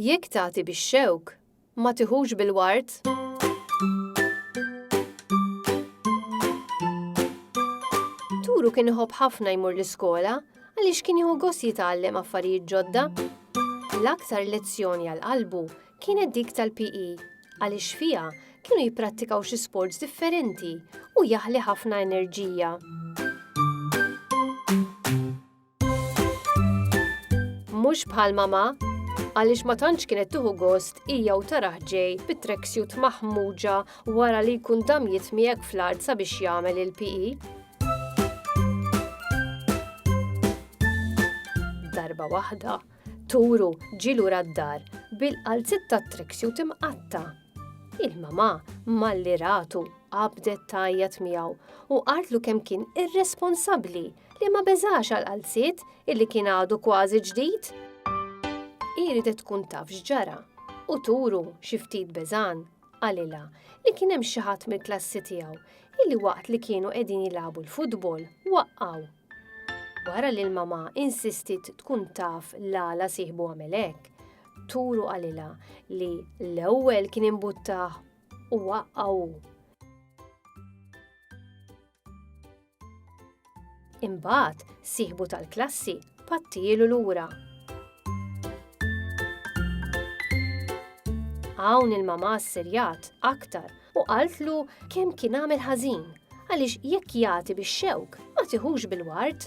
Jekk tagħti bix-xewk, ma tiħux bil-ward. Turu kien iħobb ħafna jmur l-iskola għaliex kien jieħu gost jitgħallem affarijiet ġodda. L-aktar lezzjoni għal qalbu kienet dik tal-PE għaliex fiha kienu jipprattikaw xi sports differenti u jaħli ħafna enerġija. Mhux bħal mama, għaliex ma tantx kienet tuħu gost hija u taraħ ġej bit-tracksuit maħmuġa wara li jkun dam jitmiegħek fl-art sabiex jagħmel il-PE. Darba waħda, Turu ġi lura d-dar bil-qalzit ta' tracksuit imqatta. Il-mamà malli ratu qabdet tajjat miegħu u qaltlu kemm kien irresponsabbli li ma beżax għal qalziet illi kien għadu kważi ġdid. Iridet tkun taf x'ġara u turu xi ftit beżan qalilha li kien hemm xi ħadd mill-klassi tiegħu illi waqt li kienu qegħdin jilagħbu l-futbol waqqgħu. Wara li l-mamà insistiet tkun taf l-għala sieħbu għamel hekk, turu qalilha li l-ewwel kien imbuttah u waqqgħu. Imbagħad, sieħbu tal-klassi pattilu lura. Hawn il-mama ssirjat aktar u qaltlu kemm kien għamel ħażin għaliex jekk jagħti bix-xewk ma tiħux bil-ward.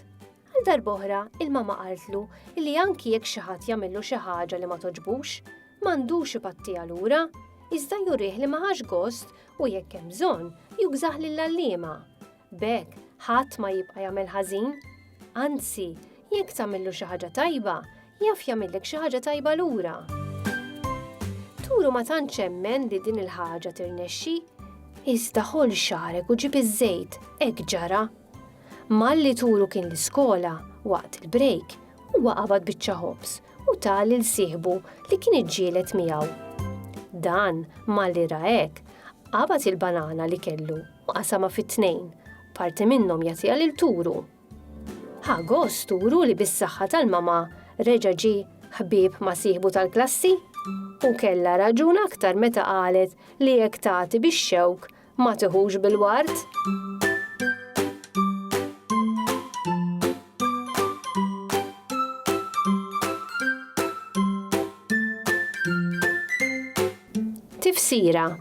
Għal darboħra il-mama qaltlu li anki jekk xi ħadd jagħmillu xi ħaġa li ma toġbux, m'għandux ipattija lura, iżda jurih li ma ħax gost u jekk hemm bżonn, jugżah lill-għalliema. B'hekk, ħadd ma jibqa' jagħmel ħażin. Anzi, jekk tagħmillu xi ħaġa tajba, jaf jagħmillek xi ħaġa tajba lura. Turu ma tantx emmen li din il-ħaġa tirnexxi, iżda ħoll xagħrek u ġib iż-żejt, hekk ġara. Malli Turu kien l-iskola, waqt il-brejk, huwa qabad biċċa ħobż u ta lil sieħbu li kien iġġieled miegħu. Dan malli ra hekk, qabad il-banana li kellu u qasama fit-tnejn, parti minnhom jagħtiha lil Turu. Ħa gost Turu li bis-saħħa tal-mama reġa' ġi ħbieb ma' sieħbu tal-klassi u kellha raġun aktar meta qalet li jekk tagħti bix-xewk Ma tiħux bil-ward? Tifsira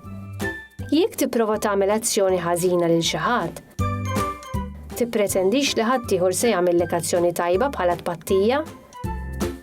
Jekk tipprova tagħmel azzjoni ħażina lil xi ħadd, tippretendix li ħaddieħor se jagħmillek azzjoni tajba bħala tpattija?